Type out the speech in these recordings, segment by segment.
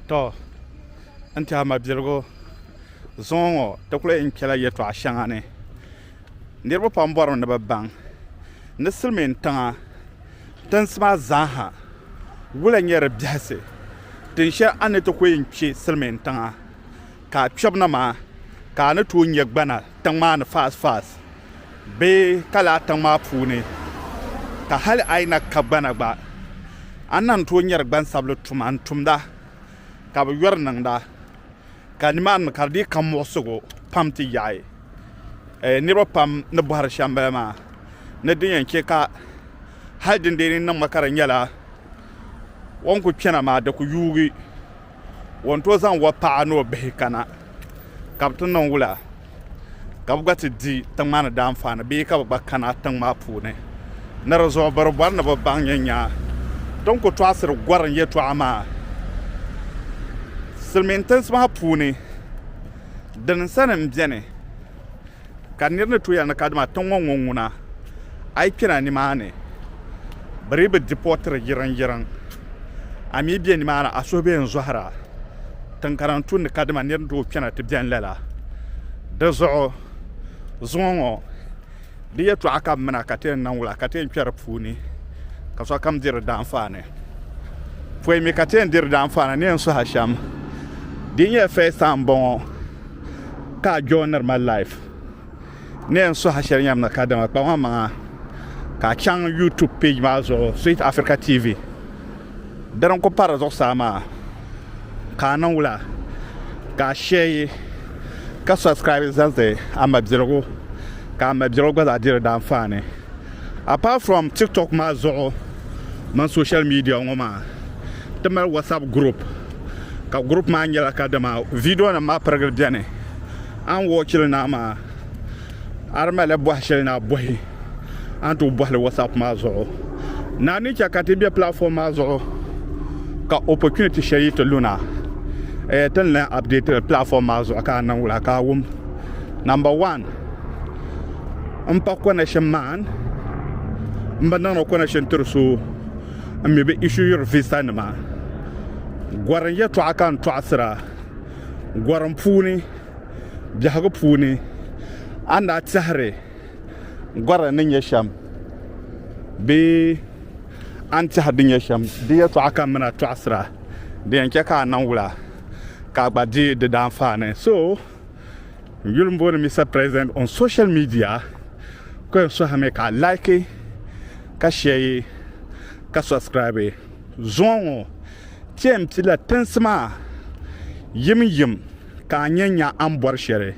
tɔ n tiɛha mabiligu zuŋɔ ŋɔ ti kuli yɛn kpɛla yɛtɔɣa shɛŋa ni niriba pam bɔrimi ni bɛ baŋ ni silimiin tiŋa tinsi maa zaaha wula n-nyɛ di biɛhisi tinshɛhi a ni ti kuli yɛn kpe silimiin tiŋa ka a kpɛbu na maa ka a ni tooi nya gbana tiŋ maa ni faasfaas bee ka lahi tiŋ maa puuni ka hali a yi na ka gbana gba a ni lan tooi nyari gbansabili tuma n-tumda ka bɛ yɔri niŋda ka nimaani mi ka di dii ka muɣisigu pam ti yaɣi niriba pam ni bɔhiri shɛm bala maa ni din yɛn che ka hali din deei ni niŋ ma ka di nyɛla o ni kuli kpɛna maa di kuli yuugi o ni tooi zaŋ o paɣa ni o bihi kana ka bi ti niŋ wula ka bi gba ti di tiŋ maa ni daanfaani bee ka bi gba kana tiŋ maa puuni ni di zuɣu biri bɔri ni bi baŋ nyɛ nya tin ku tɔɣisiri gɔrim yɛtɔɣa maa silimiintinsi maa puuni dini sani m-beni Ka nir ni tuya ni ka dima tiŋ ŋɔ ŋun ŋuna, a yi kpina nimaani, bɛ dii bi dipɔtiri yiriŋyiriŋ, a mi be nimaani a suhu be n-zɔhira tiŋ ka din tu ni ka dima nir ni tooi kpina ti beni lala. Dizuɣu zuŋɔ ŋɔ. Di yɛtɔɣa ka bɛ mina ka ti yɛn niŋ wula ka ti yɛn kpɛri puuni ka sokam diri daanfaani? Pɔi mi ka ti yɛn diri daanfaani ni yɛn suhi shɛm. Di yi nyɛ first time m-bɔŋɔ ka a joiniri ma live, ni yɛn suhi shɛli yɛm ni kadama kpam a maŋa ka a chaŋ YouTube page maa zuɣu Sweet Africa TV. Di din kuli pa di zuɣusaa maa. ka a niŋ wula ka a share yi ka subscribe zaŋdi a mabiligu ka a mabiligu gba zaa diri daanfaani apart from tiktok maa zuɣu mini social media ŋɔ maa ti mali whatsapp group ka group maa nyɛla ka dama video nim maa pirigili bɛni an wɔchili naa maa A di malila bɔhi shɛli ni a bɔhi, a ni tooi bɔhi li WhatsApp maa zuɣu. Naa ni chɛ ka ti be platform maa zuɣu ka opportunity shɛli yi ti lu na, eh, ti ni lan update li platform maa zuɣu ka a niŋ wula ka a wum. Number one, m pa connection maan, m bi niŋdi connection tiri so, m mi bi issuer visa nima. Gɔrim yɛltɔɣa ka n tɔɣisira gɔrim puuni. biɛhigu puuni a ni daa tɛhiri gɔra ni nyɛ shɛm bee a ni tɛhiri din nyɛ shɛm di yɛtɔɣa ka mini a tɔɣisira di yɛn chɛ ka a niŋ wula ka a gba di di daanfaani so n yuli m booni Mister President on social media ko yɛn sɔhimi ka a like ka share ka subscribe zuŋɔ ŋɔ ti yɛn pila tinsi maa yim yim ka a nya nya a ni bɔri shɛli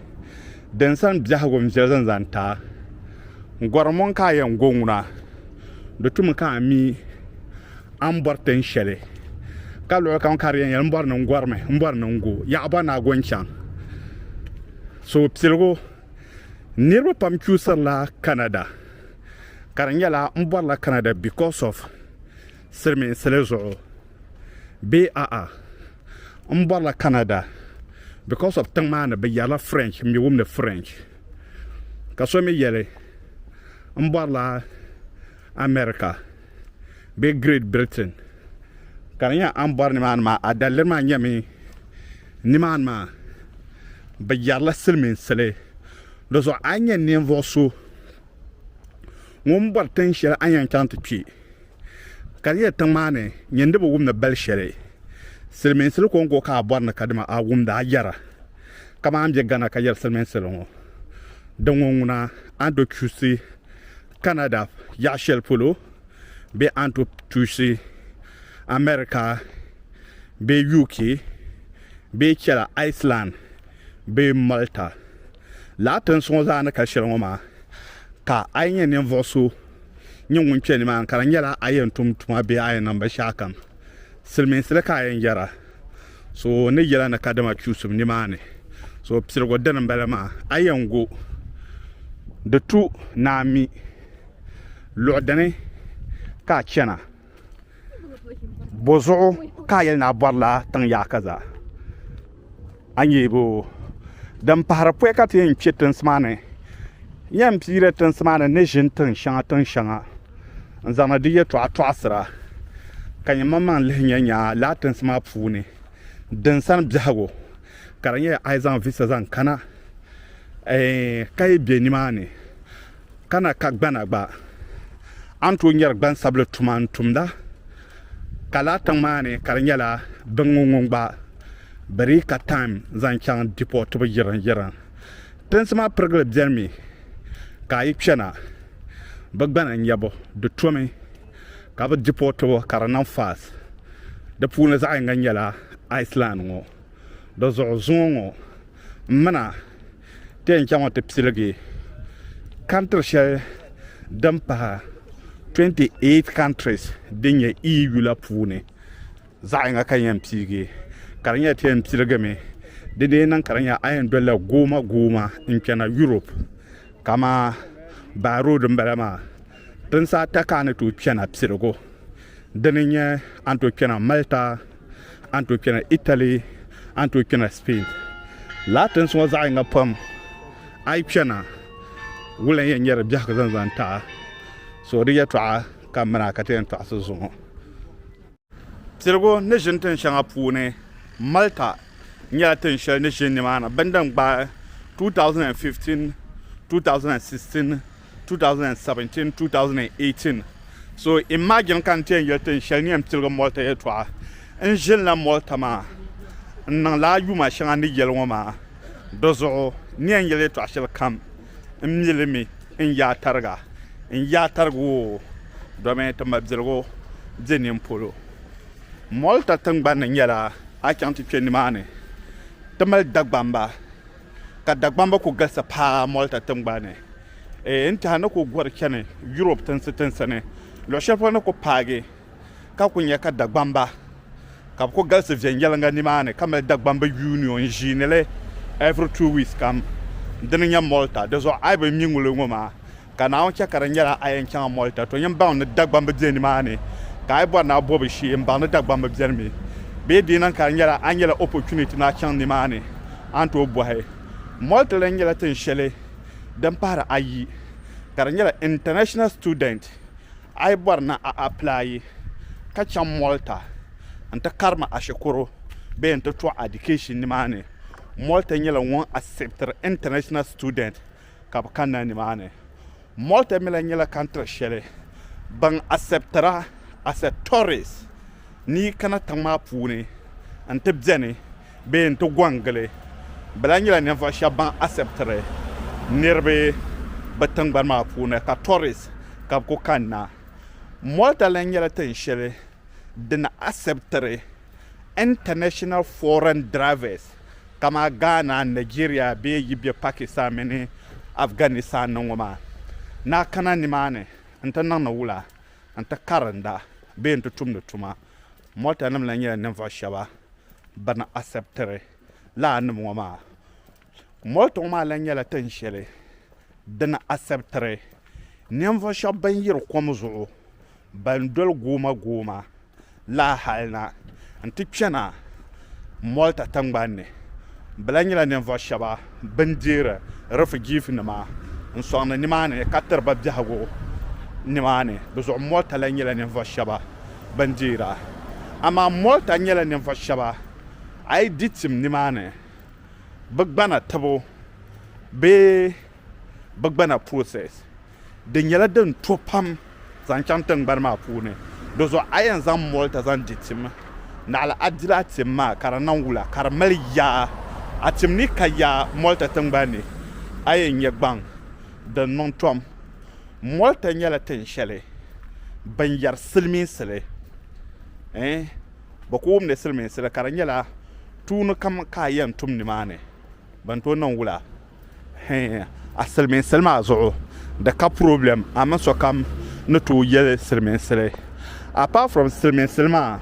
din sani biɛhigu n-viɛ zani zaŋ ti a. N gɔri mɔŋ ka a yɛn go ŋuna, di tumi ka a mi a ni bɔri tin shɛli, ka luɣilikam ka di yɛn yɛli m bɔri ni n gɔrimi, m bɔri ni n go, yaɣi bɔ ni a go n-chaŋ. Suhupiligu, Niriba pam chuusirila Canada, ka di nyɛla m bɔrila Canada because of silimiinsili zuɣu bee a'a? n bɔrila Canada because of tiŋ maa ni bɛ yɛrila French m mi wum ni French ka so mi yɛli n bɔrila America bee Great Britain ka di nyɛla a ni bɔri nimaani maa a daliri maa nyɛmi nimaani maa bɛ yɛrila silimiinsili di zuɣu a ni nyɛ ninvuɣ so ŋun bɔri tiŋ shɛli a ni yɛn chaŋ ti kpi Ka di nyɛla tiŋ maa ni nyɛ ni bi wumdi bali shɛli silimiinsili kɔŋko ka a bɔri ni kadama a wumda a yɛra kaman a ni be Ghana ka yɛri silimiinsili ŋɔ din ŋɔ ŋuna a ni tooi kpuɣisi Canada yaɣ shɛli polo bee a ni tooi kpuɣisi America bee UK bee chɛla Iceland bee Malta. Lala tinsi ŋɔ zaa ni ka shɛli ŋɔ maa, ka a yi nyɛ ninvuɣ so nyɛ ŋun kpe nimaani, ka di nyɛla a yɛn tum tuma bee a yɛn niŋ binshɛɣukam, silimiinsili ka a yɛn yɛra, so ni yɛla ni kadama kpiɣisim nimaani. So piligu dini m-bala maa, a yɛn go di tu ni a mi luɣ dini ka a chana. bɔzuɣu ka a yɛli ni a bɔrila tiŋ yaaka zaa a ni yihigi o din pahiri pɔi ka ti yɛn kpe tinsi maa ni n yɛn piiri tinsi maa ni ni ʒini tiŋ shɛŋa tiŋ shɛŋa n zaŋdi di yɛltɔɣa tɔɣisira ka nyɛ manmaŋ lihi nyɛ nya lala tinsi maa puuni din sani biɛhigu ka di nyɛla a yi zaŋ visa zaŋ kana ka yi be nimaani Ka na ka gbana gba a ni tooi nyari gbansabili tuma n tumda ka laa tiŋ maa ni ka di nyɛla biŋŋɔ ŋun gba bi dii ka taim zaŋ chaŋ dipɔɔtibu yirin yirin. Tinsi maa pirigili beni mi ka a yi kpɛna bi gbana nyabu di tomi ka bi dipɔɔtibu ka di niŋ faas. Di puuni zaɣ yiŋga nyɛla Iceland ŋɔ. Di zuɣu zuŋɔ ŋɔ m mina Ti yɛn chaŋ ti piligi country shɛli din pahi 28 countries din nyɛ EU la puuni zaɣ yinga ka yɛn piigi ka di nyɛla ti yɛn piligimi di dee niŋ ka di nyɛ a yɛn dolila gooma gooma n kpɛna Europe kamani by road n bala maa tinsi ata ka a ni tooi kpɛna piligu dini n-nyɛ a ni tooi kpɛna Malta a ni tooi kpɛna Italy a ni tooi kpɛna Spain laa tinsi ŋɔ zaɣ yinga pam a yi kpɛna wula n-yɛn nyɛri biɛhigu zaŋ zaŋ ti a so di yɛtɔɣa ka mini a ka ti yɛn tɔɣisi zuŋɔ piligu ni ʒini tin shɛŋa puuni Malta nyɛla tin shɛli ni ʒini nimaani bindin gbaai 2015 2016 2017, 2018. So imagine ka n ti yɛn yɛli ti n shɛli ni yɛn piligi Malta yɛltɔɣa. N ʒinila Malta maa, n niŋla a yuma shɛŋa ni yɛli ŋɔ maa. Di zuɣu n ni yɛn yɛli yɛltɔɣa shɛli kam, n mi li mi n yaa tariga. N yaa tariga o domi ti mabiligu be nini polo. Malta tiŋgbani nyɛla a chaŋ ti kpe nimaani ti mali Dagbamba. Ka Dagbamba ku galisi paa Malta tiŋgbani ni ee n-tɛha ni ku gɔri chani Yurop tinsi tinsi ni luɣ shɛli polo ni ku paagi ka ku nya ka Dagbamba ka bɛ ku galisi viɛnyɛliŋga nimaani ka mali Dagbamba Union ʒiinili every two weeks kam. Dini nya Malta. Di zuɣu a yi bi mi ŋuli ŋɔ maa Ka Naawuni chɛ ka di nyɛla a yɛn chaŋ a Malta, tɔ nyin baŋ ni Dagbam bi be nimaani, ka a yi bɔri ni a bo bi shee, m-baŋ ni Dagbam bi beni mi. Bee di yi niŋ ka di nyɛla a nyɛla opportunity ni a chaŋ nimaani, a ni tooi bɔhi. Malta lan nyɛla tin shɛli din pahiri ayi, ka di nyɛla international student. A yi bɔri ni a applyi ka chaŋ Malta n-ti karimi a shikuru bee n-ti tɔɣi education nimaani, Malta nyɛla ŋun acceptiri international student. ka bɛ kanna nimaani. Multimila nyɛla kantiri shɛli ban asɛptira, acceptores, ni yi kana tiŋ maa puuni n-ti beni bee n-ti gɔŋgili. Bɛ lahi nyɛla ninvuɣ shɛba ban asɛptiri niriba bɛ tiŋgbani maa puuni ka tourist ka bɛ ku kanna. Malta lahi nyɛla tin shɛli din asɛptiri. International foreign drivers kama Ghana, Nigeria bee yi be Pakistan mini Afghanistan ni ŋɔ maa ni a kana nimaani n-ti niŋdi wula, n-ti karinda bee n-ti tumdi tuma, motanima la nyɛla ninvuɣ shɛba bɛ ni asɛptiri lala nim ŋɔ maa. Moltong maa lahi nyɛla tin shɛli din asɛptiri ninvuɣu shɛba ban yiri kom zuɣu ban doli gooma gooma la hali na n-ti kpɛna Malta tiŋgbani ni. Bɛ lahi nyɛla ninvuɣu shɛba bɛn deeri rifijiinima n-sɔŋdi nimaani ka tiri ba biɛhigu nimaani. Dizuɣu Malta lahi nyɛla ninvuɣu shɛba bɛn deera. Amaa Malta nyɛla ninvuɣu shɛba a yi di tim nimaani. bɛ gbana tibu bee bɛ gbana process di nyɛla din to pam zaŋ chaŋ tingbani maa puuni di zuɣu a yɛn zaŋ moli ti zaŋ di tim naɣila a dila a tim maa ka di niŋ wula ka di mali yaa a tim ni ka yaa moli ti tingbani ni a yɛn nyɛ gbaŋ din niŋ tom moli ti nyɛla tin shɛli binyɛri silimiinsi li eh bɛ ku wumdi silimiinsi li ka di nyɛla tuuni kam ka a yɛn tum nimaani bɛ ni tooi niŋ wula hee a silimiinsi li maa zuɣu di ka purɔblɛm a mini sokam ni tooi yɛli silimiinsi li apart from silimiinsi li maa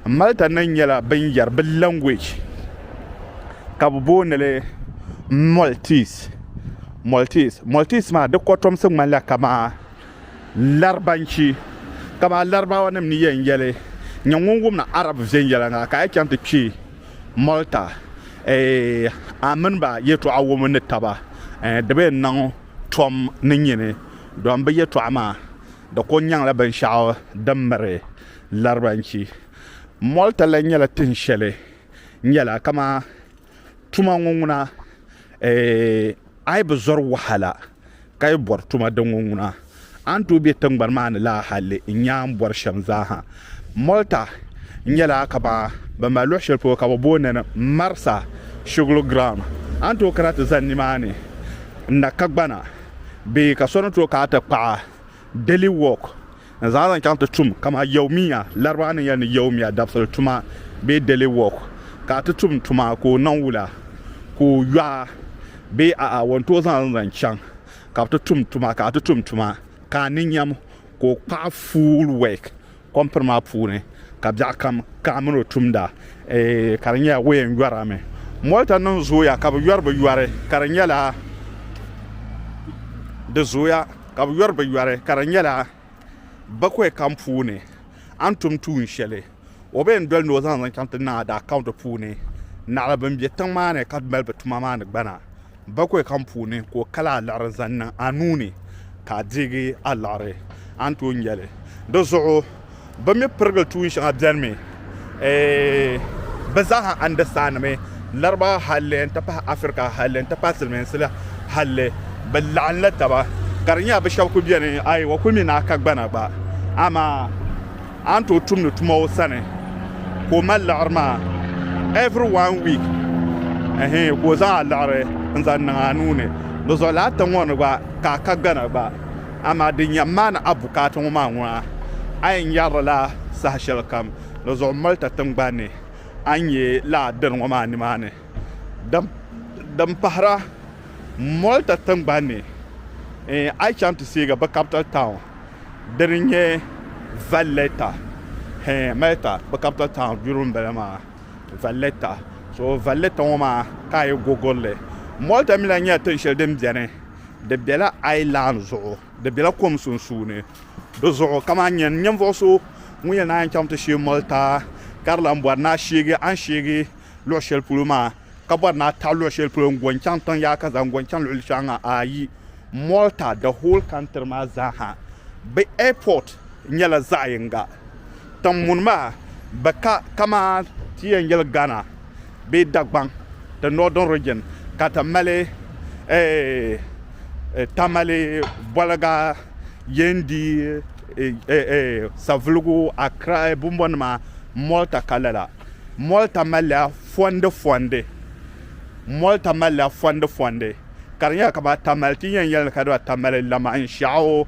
Malta ni nyɛla bɛ ni yɛri bɛ language ka bɛ booni li Maltese Maltese Maltese maa di kɔtomsi ŋmanila kamani Larabanchi, kaman Laribaawanim ni yɛn yɛli, Nyɛ ŋun wumdi Arabu viɛnyɛla ŋa, ka a chaŋ ti kpe Malta, eh, a mini ba yɛtɔɣa wum ni taba, eh, di bi yɛn niŋ tom ni nyini, dɔn bɛ yɛtɔɣa maa di kul nyaŋla binshɛɣu din miri Larabanchi. Malta lan nyɛla tin shɛli nyɛla kaman tuma ŋɔ ŋuna, eh, a yi bi zɔri wahala. ka yi bɔri tuma din ŋɔ ŋuna, a ni tooi be tiŋgbani maa ni laa halli n-nyaa ni bɔri shɛm zaa ha. Malta nyɛla kaman bɛ mali luɣ shɛli polo ka bɛ booni ni Marsa Shugli Ground. A ni tooi kana ti zani nimaani n-na kagbana bee ka so ni tooi kana ti kpaɣi Delhi Walk N zaŋ li chaŋ ti tum kaman Yawmiya, Laribaa ni yɛli ni Yawmiya, dabisili tuma bee daily work, ka a ti tum tuma ka o niŋ wula, ka o yɔɣ a bee a'a o ni tooi zaŋ li zaŋ chaŋ ka bɛ ti tum tuma ka a ti tum tuma ka a ni nyam ka o kpaɣi full work kɔmpini maa puuni ka biɛɣukam ka a mini o tumda eeh ka di nyɛla o yɛn yɔri a mi. Mɔlita niŋ zooya ka bɛ yɔri bɛ yɔri ka di nyɛla di zooya. Ka bɛ yɔri bɛ yɔri ka di nyɛla bakwai kam puuni a ni tum tuun shɛli o bee n doli ni o zaŋ zaŋ chaŋ ti niŋ a daa kaunti puuni naɣila bɛn be tiŋ maa ni ka mali bɛ tuma maa ni gbana bakwai kam puuni ka o kali a liɣiri zaŋ niŋ a nuu ni ka a deegi a liɣiri a ni tooi nya li. Di zuɣu. bɛ mi pirigili tuun shɛŋa bɛnimi, bɛ zaa ha andɛstaandimi Larabawa halli n-ti pahi Afirika halli n-ti pahi Silimiinsi la halli bɛ laɣinla taba ka di nyɛla bɛ shɛba kuli beni aywa kuli mi ni a kagbana gba amaa a ni tooi tumdi tuma o sani ka o mali liɣiri maa every one week ɛhɛɛ ka o zaŋ a liɣiri n-zaŋ niŋ a nuu ni di zuɣu lala tiŋ ŋɔ ni gba ka a kagbana gba Amaa din yɛn maani a bukaata ŋɔ maa ŋuna, A yɛn nyarili la saha shɛli kam ni zuɣu Malta tiŋgbani ni a ni nyɛ la a dini ŋɔ maa nimaani. Din pahira, Malta tiŋgbani ni a yi chaŋ ti seegi bɛ capital town dini n-nyɛ Valletta, hee, Malta bɛ capital town duri m-bala maa, Valletta, so Valletta ŋɔ maa ka a yi gogori li. Malta mi lahi nyɛla tiŋ shɛli din beni di bela island zuɣu di bela kom sunsuuni di zuɣu ka maa nya ninvuɣu so ŋun yɛn naan chaŋ ti sheei malta ka di lan bɔri ni a sheegi a ni sheegi luɣ shɛli polo maa ka bɔri ni a taɣi luɣ shɛli polo n-go n-chaŋ tiŋ yaha ka zaŋ go n-chaŋ luɣ shɛli ŋɔ ayi malta the whole country maa zaa ha bɛ airport nyɛla zaɣ yinga tiŋ muni maa bɛ ka kaman ti yɛn yɛli ghana bee Dagbaŋ, the northern region, ka ti mali Tamale boliga yen di savuligu Accra bumbonima Malta ka lala. Malta malila fondifondi Malta malila fondifondi ka di nyɛla kamani Tamale ti ni yɛn yɛli ni ka di ba Tamale lamanshaɣu.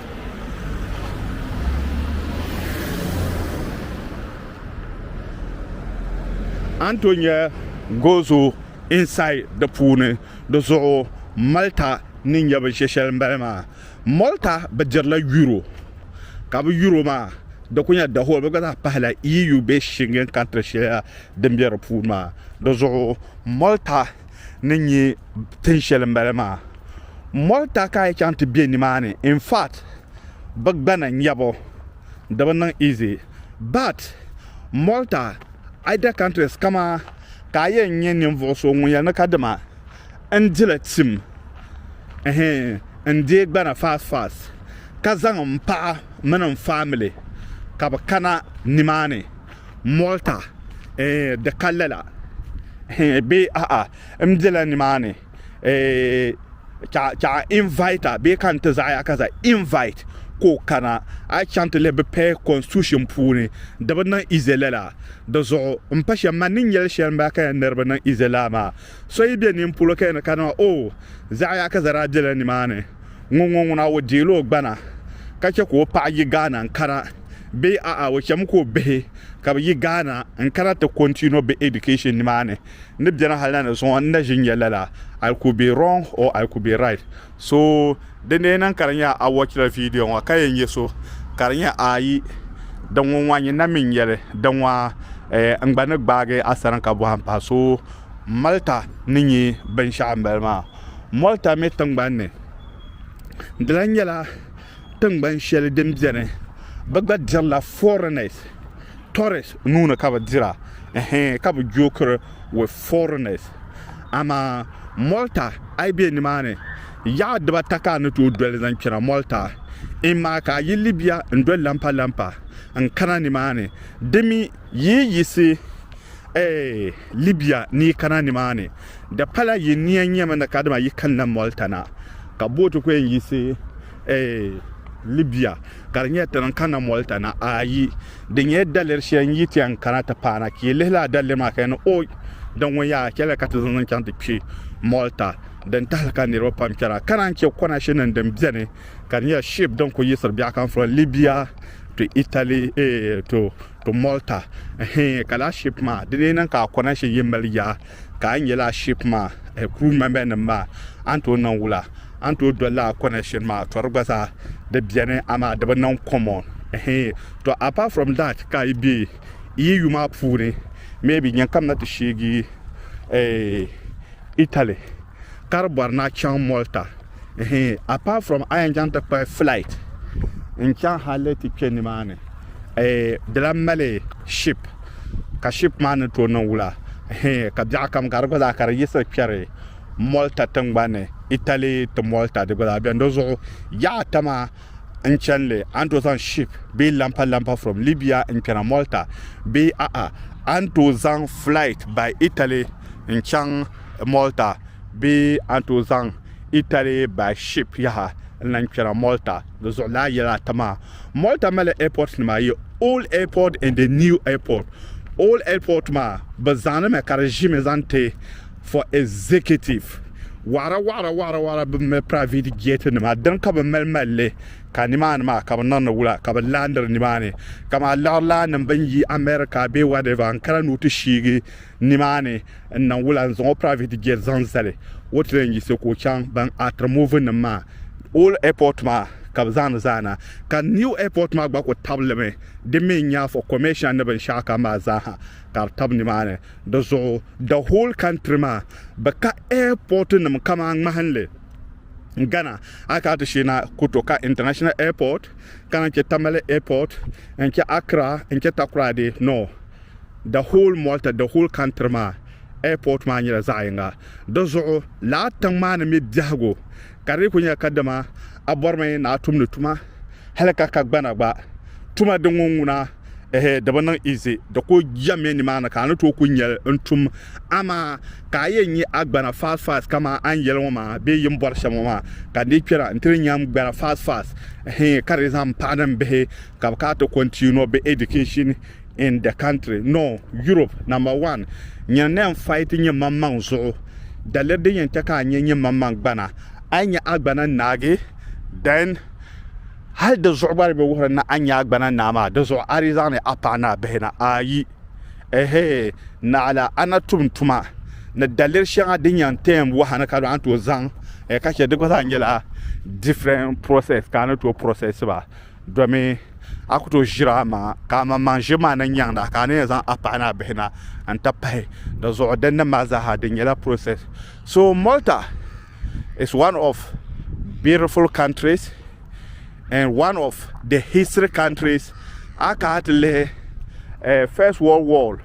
Anto nyɛ gozo inside di puuni di zuɣu Malta ni nyɛ bi shɛshɛli mbali maa Malta bi dirila euro ka bi euro maa di ku nyɛ the whole bi gba zaa pahila EU bee Schengen country shɛli la din bɛ di puuni maa di zuɣu Malta ni nyɛ tin shɛli mbali maa. Malta ka yi chaŋ ti be nimaani in fact bɛ gbana nyɛbu di bi niŋ easy but Malta other countries kama ka a yɛn nyɛ ninvuɣu so ŋun yɛli ni ka dima n dila tim n deei gbana fast fast ka zaŋ m paɣa mini m family ka bɛ kana nimaani Malta di ka lala bee a'a m bela nimaani eh, chaɣa invite bee ka n ti zaɣaya ka za invite ka o kana a chaŋ ti lihi bi pɛ constitution puuni di bi niŋ izela la di zuɣu n pa shɛm man ni nyɛli shɛli n baa ka yɛn niribi niŋ izela maa so yi bɛ nin polo ka yɛn kana maa o oh, zaɣaya ka zara bela nimaani ŋun ŋɔ ŋuna o deeli o gbana ka chɛ ka o paɣa yi Ghana n kana bee a'a o chɛmi ka o bihi ka bi yi Ghana n kana ti continue bi education nimaani n ni beni hal na ni zuŋɔ n na ʒi n-nya lala, I could be wrong or I could be right. So, din lee niŋ ka di nya a wɔchila vidiyo ŋɔ ka yɛn nya so ka di nya aai din ŋɔ ŋɔ nyin na mi n-nya li, di ŋɔ eh, n gba ni gbaagi a sani ka bɔhi m pahi. So, Malta ni nyɛ binshɛɣu m-bala maa. Malta mi tiŋgbani ni di lahi nyɛla. Tiŋgbani shɛli din beni bɛ gba dirila foreigners, tourists nuuni ka bɛ dira ɛhɛɛn ka bɛ joker with foreigners. Amaa Malta a yi be nimaani yaɣa dibata ka a ni tooi doli zaŋ kpɛna Malta. Imma ka a yi Libya n-doli lampa lampa n-kana nimaani dimi yi yi yiɣisi eh Libya ni yi kana nimaani. Di pala yi ni yɛn nyɛmi ni kadama yi kanna Malta na, ka booti ku yɛn yiɣisi Libya ka di nyɛ ti ni kanna Malta na? Ayi! Di nyɛla daliri shɛli n-yi ti yɛn kana ti paana. Ka yi lihi lala daliri maa ka yi ni, Oi! Di ŋun yaa chɛlila ka ti zaŋ zaŋ chaŋ ti kpe Malta din tahili ka niriba pam kpɛra, ka naan chɛ kɔnashinim din beni ka di nyɛla ship din ku yiɣisiri biɛhikan from Libya to Italy to Malta. Hee, ka lala ship maa di lee niŋ ka a kɔnashin yi mali yaa? Ka a yi nyɛla ship maa crew member nim maa a ni tooi niŋ wula? A ni tooi doli la connection maa to di gba zaa di beni amaa di bi niŋ common hee to apart from that ka a yi be EU maa puuni maybe nyankam na ti sheegi Italy ka di bɔri ni a chaŋ Malta. ehe apart from a yɛn chaŋ ti kpuɣi flight n chaŋ hali ti kpɛ nimaani eh, di lan mali ship ka ship maa ni tooi niŋ wula ehe ka biɛɣu kam gari gba zaa ka di yiɣisiri kpɛri Malta tingbanni Italy ti Malta di gba zaa bɛni di zuɣu yaɣa ata maa n chɛnli a ni tooi zaŋ ship bee lampa lampa from Libya n kpɛna Malta bee a'a a ni tooi zaŋ flight by Italy n chaŋ Malta Bee a ni tooi zaŋ Italy by ship yaha n-na n-kpɛra Malta di zuɣulana yɛla ata maa? Malta mali airport nima ayi, Old Airport and the New Airport. Old Airport maa bɛ zaŋdi mi ka di ʒimi zaŋ ti for executive waɣira waɣira waɣira waɣira bɛ mali private jet nima dini ka bɛ mali mali li ka nimaani maa ka bɛ niŋdi wula ka bɛ laandiri nimaani kaman liɣiri laanim bɛn yi America bee whatever n-kana ni o ti shiigi nimaani n niŋ wula n zaŋ o private jet zaŋ zali o train yisi ka o chaŋ ban atiri movie nim maa old airport maa ka bi zaani zaana ka new airport maa gba ku tabili di mi n nya for commercial ni binshaɣu kam maa zaaha ka di tabi nimaani di zuɣu the whole country maa bi ka airport nim kamaa ŋmahinli Ghana a ka ti shee na ku to ka international airport kana n chɛ Tamale airport n chɛ Accra n chɛ Takoradi no The whole Malta, the whole country maa airport maa nyɛla zaɣ yinga. Di zuɣu lala tiŋ maa ni me biɛhigu ka di kuli nyɛla kadama a bɔrimi ni a tumdi tuma hali ka ka gbana gba. Tuma din ŋɔ ŋuna ehe di bi niŋ easy. Di kuli jɛmmi nimaani ka a ni tooi kuli nyɛli n-tum. Amaa ka a yɛn nya a gbana fast fast kaman a ni yɛli ŋɔ maa bee yi ni bɔri shɛm ŋɔ maa ka n dii kpɛra nti ni nya m-gbana fast fast hee ka di zaŋ m paɣa ni m bihi ka bɛ kana ti continue bɛ education in the country no Europe number one nyɛ ne fight nyɛ maŋmaŋ zuɣu daliri din yɛn chɛ ka a nyɛ nyɛ maŋmaŋ gbana a nyɛ a gbana naagi then hali di zuɣu gba be wuhiri na a nyɛ a gbana naa maa di zuɣu a di zaŋ ni a paɣa ni a bihi na ayi ehe naɣala ana tum tuma ni daliri shɛŋa din yɛn tɛm wahani ka an tooi zaŋ eh, ka chɛ di gba zaa nyɛla different process ka a ni tooi process ba domi a ku tooi ʒiri a maŋa ka amaŋmaŋ ʒiri maa ni nyaŋdi a ka a ni yɛn zaŋ a paɣa ni a bihi na n ti pahi dizuɣu dinni maa zaaha di nyɛla process so malta is one of beautiful countries and one of the history countries a kana ti lihi eh, first world war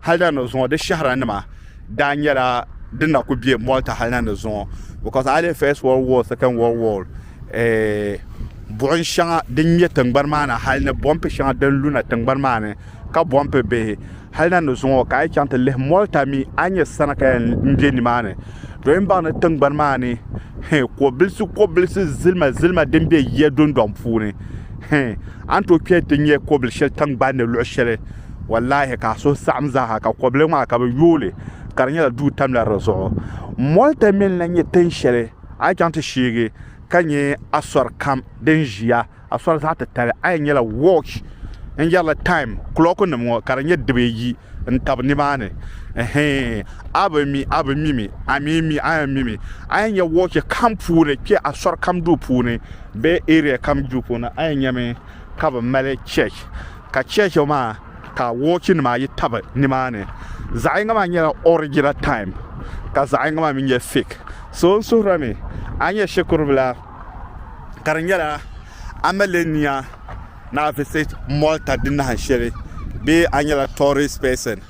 hali na ni zuŋɔ di shɛhira nima daa nyɛla din na ku bɛ malta hali na ni zuŋɔ because a lihi first world war second world war buɣim shɛŋa din ŋmɛ tiŋgbani maa ni hali ni bɔmpi shɛŋa din luna tiŋgbani maa ni ka bɔmpi bihi hali na ni zuŋɔ ka a yi chaŋ ti lihi mɔlta mi a ni nyɛ sana ka yɛn be nimaani dɔyi m-baŋ ni tiŋgbani maa ni hɛn kɔbilisi kɔbilisi zilima zilima din be yiya dundɔŋ puuni hɛn a ni tooi kpɛhi nti nya kɔbil shɛli tiŋgbani ni luɣ shɛli wallaahi ka a suhu saɣim zaaha ka kɔbiliŋ maa ka bɛ yooi li ka di nyɛla duu tamla di zuɣu mɔlta mi n-lahi nyɛ tin shɛli A yi chaŋ ti sheegi ka nya asɔri kam din ʒiya asɔri zaɣ titali, a yɛn nyɛla watch n-yɛrila time kulɔɔkunim ŋɔ ka di nyɛ dibayi n-tab nimaani. Ɛhɛin, a bi mi, a bi mi mi, a mi mi, a yɛn mi mi. A yɛn nya watch kam puuni, kpe asɔri kam duu puuni bee area kam duu puuni, a yɛn nyami ka bɛ mali church, ka church maa. ka wɔchi nima ayi tabi ni maa ni zaɣi yinga maa nyɛla original time ka zaɣi yinga maa mi nyɛ fake so n suhira mi a nyɛ shikuru bila ka di nyɛla amalenia na visit Malta di nahin shɛli bee a nyɛla tourist person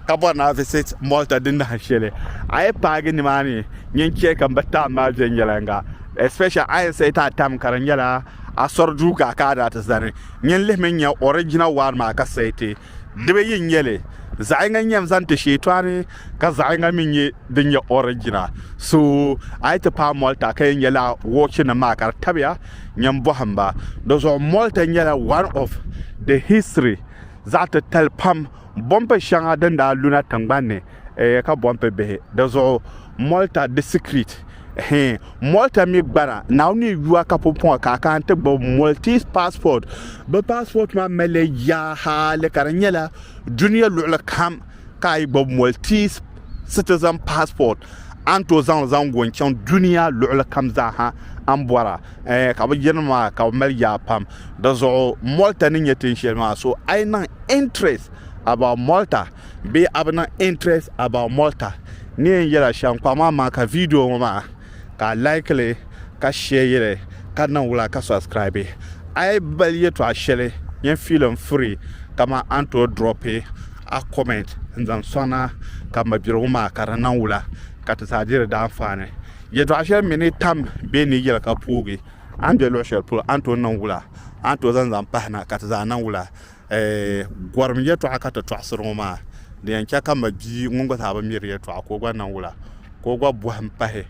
ka bɔri na visit Malta di nahin shɛli a yi paagi nimaani nyin chɛ ka m bi taam maa viɛnyɛliŋga especially a yi sayi ti a tam ka di nyɛla Asori duu ka ka a daa ti zani. Nyɛ n-lihimi n-nya ɔrijina waan maa ka sayi ti. Di bi yi n-nyɛ li? Zaɣ yiŋga n-nyɛ n zani ti Sheetɔani, ka zaɣ yiŋga mi n-nyɛ din nyɛ ɔrijina. So, a yi ti paai Mɔlta ka yɛn nya lala wɔɔchinim maa ka di tabiya, nyɛ m-bɔhi m ba. Dɔzuɣu Mɔlta nyɛla one of the history zaɣ titali pam bɔmpi shɛŋa din daa lu na tiŋgbani ni, eeh ka bɔmpi bihi di zuɣu. Mɔlta disikiriit. Hee, Malta mi gbara Naawuni ni yuwa ka pumpɔŋɔ ka a kana ti gbubi Maltese passport. Bɛ passport maa mali yaa hali ka di nyɛla dunia luɣili kam ka a yi gbubi Maltese citizen passport a ni tooi zaŋ li zaŋ go n-chaŋ dunia luɣili kam zaa ha a ni bɔra. Hee, ka bɛ yirini maa ka bɛ mali yaa pam. Di zuɣu Malta ni nyɛ tin shɛli maa so a yi niŋ interest about Malta, Bee a bi niŋ interest about Malta ni yɛn yɛla shɛm kpaŋ maa amaa ka video ŋɔ maa ka a like li ka share li ka niŋ wula ka subscribe a yi bali yɛtɔɣa shɛli yɛn feel n free kaman a ni tooi drop a comment n zaŋ sɔŋ na ka mabirigu maa ka di niŋ wula ka ti zaa diri di anfaani yɛtɔɣa shɛli mi ni tam bee ni yɛli ka poogi a ni be luɣushɛli polo a ni tooi niŋ wula a ni tooi zaŋ zaŋ pahi na ka ti zaa niŋ wula A gɔrim yɛtɔɣa ka ti tɔɣisiri ŋɔ maa, di yɛn chɛ ka ma bia ŋun gba zaa bi miri yɛtɔɣa ka o gba niŋ wula, ka o gba bɔhim pahi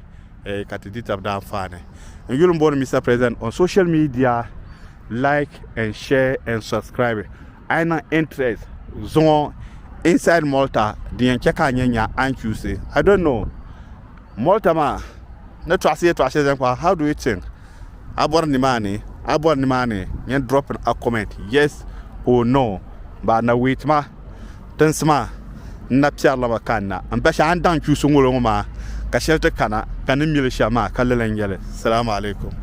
ka ti di tab daanfaani. N yuli m bɔri Mister President on social media like and share and subscribe a yi niŋ interest zuŋɔ inside Malta di yɛn chɛ ka a nya nya a ni chusi I don't know Malta maa ni tɔɣisi yɛtɔɣa shɛli zaŋ kpa how do you think? A bɔri nimaani a bɔri nimaani yɛn drop in a comment yes or no baa na wait ma tinsi maa n na piɛri la ma ka n na n bashi a ni daŋ kpiusi ŋolo ŋɔ maa ka shɛli ti kana ka ni mili shɛm maa ka lala n yɛli salamu alaikum.